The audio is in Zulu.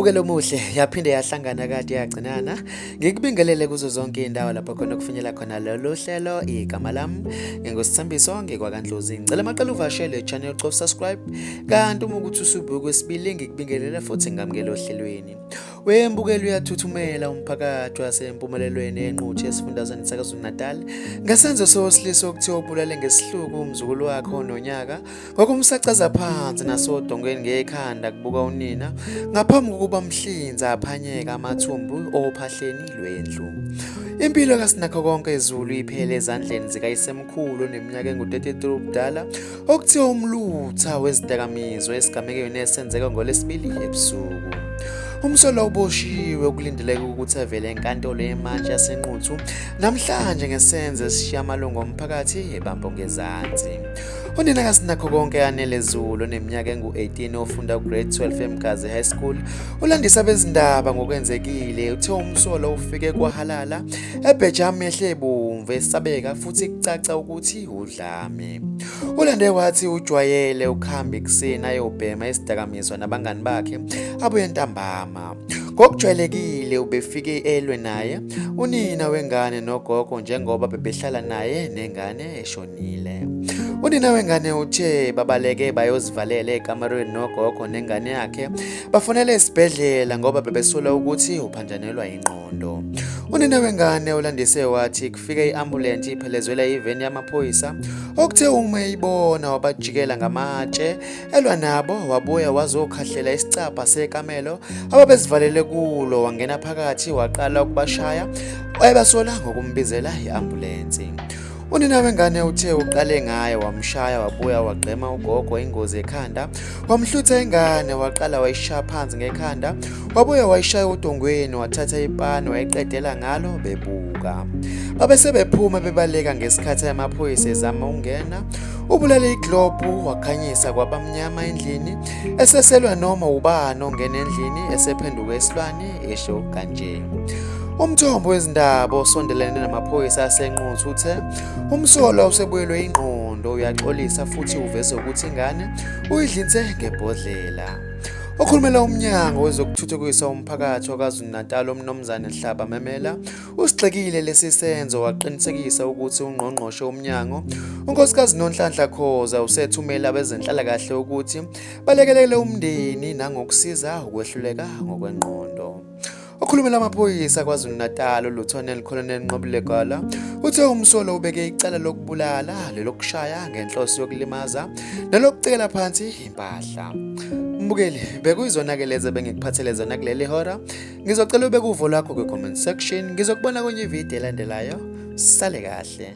Umbukelo omuhle yaphinde yahlangana kade yagcinana ngikubingelele kuzo zonke indawo lapho khona kufinyela khona lolu hlelo igama lami ngingosithembiso ngikwakandlozi ngicela amaqela uvashele channel cof subscribe kanti uma ukuthi usubuka kwesibili ngikubingelele futhi ngamukele ohlelweni Wembukela uyathuthumela umphakathi wasempumelelweni enquthu esifundazweni saKwaZulu-Natal ngesenzo sowesilisa okuthiwa ubulale ngesihluku umzukulu wakhe ononyaka ngokumsacaza phansi nasodongweni ngekhanda kubuka unina ngaphambi kokuba mhlinza aphanyeka amathumbu ophahleni lwendlu Impilo kaSinakho konke izulu iphele ezandleni zikayisemkhulu oneminyaka engu-33 ubudala Okuthiwa umlutha wezidakamizwa esigamekweni esenzeka ngolesibili ebusuku. Umsolwa uboshiwe okulindeleke ukuthi avele enkantolo yemantshi yaseNquthu namhlanje ngesenzo esishiya amalungu omphakathi ebambo ngezansi. Unina kaSinakho konke yanele Zulu oneminyaka engu-18 ofunda ugrade 12 eMgazi High School ulandisa bezindaba ngokwenzekile uthe umsolwa ufike kwahalala ebhejami ehle ebomvu esabeka futhi kucaca ukuthi Dlami. Ulande wathi ujwayele ukuhamba ekuseni ayobhema isidakamizwa nabangani bakhe abuye ntambama. Ngokujwayelekile ubefike elwe naye unina wengane nogogo njengoba bebehlala naye nengane eshonile. Unina wengane uthe babaleke bayozivalela ekamerweni nogogo nengane yakhe bafonele esibhedlela ngoba bebesola ukuthi uphanjanelwa ingqondo. Unina wengane ulandise wathi kufike i-ambulensi iphelezwela iveni yamaphoyisa okuthe uma eyibona wabajikela ngamatshe elwa nabo wabuya wazokhahlela isicabha sekamelo ababezivalele kulo wangena phakathi waqala ukubashaya wayebasola ngokumbizela i-ambulensi Unina wengane uthe uqale ngaye wamshaya wabuya wagqema ugogo ingozi ekhanda wamhlutha ingane waqala wayishaya phansi ngekhanda wabuye wayishaya udongweni wathatha ipani wayiqedela ngalo bebuka babe sebephuma bebaleka ngesikhathi amaphoyisa ezama ukungena ubulale iglobhu wakhanyisa kwabamnyama endlini eseselwa noma ubani ongena endlini esephenduka esilwane esho kanje umthombo wezindaba osondelene namaphoyisa asenquthu uthe umsolwa usebuyelwe ingqondo uyaxolisa futhi uveze ukuthi ingane uyidlinse ngebhodlela okhulumela umnyango wezokuthuthukisa umphakathi wakazulu-natal umnumzane hlaba memela usigxekile lesi senzo waqinisekisa ukuthi ungqongqoshe umnyango unkosikazi nonhlanhla khoza usethumela abezenhlalakahle ukuthi balekelele umndeni nangokusiza ukwehluleka ngokwengqondo Okhulumela amaphoyisa KwaZulu-Natal uLieutenant Colonel Nqobile Gala uthe umsolo ubeke icala lokubulala, lelokushaya ngenhloso yokulimaza, nelokucekela phansi impahla. Mbukeli, bekuyizona-ke lezi ebengikuphathele zona kuleli hora. Ngizocela ubeke uvo lwakho kwi-comment section. Ngizokubona kwenye ividiyo elandelayo. Sale kahle.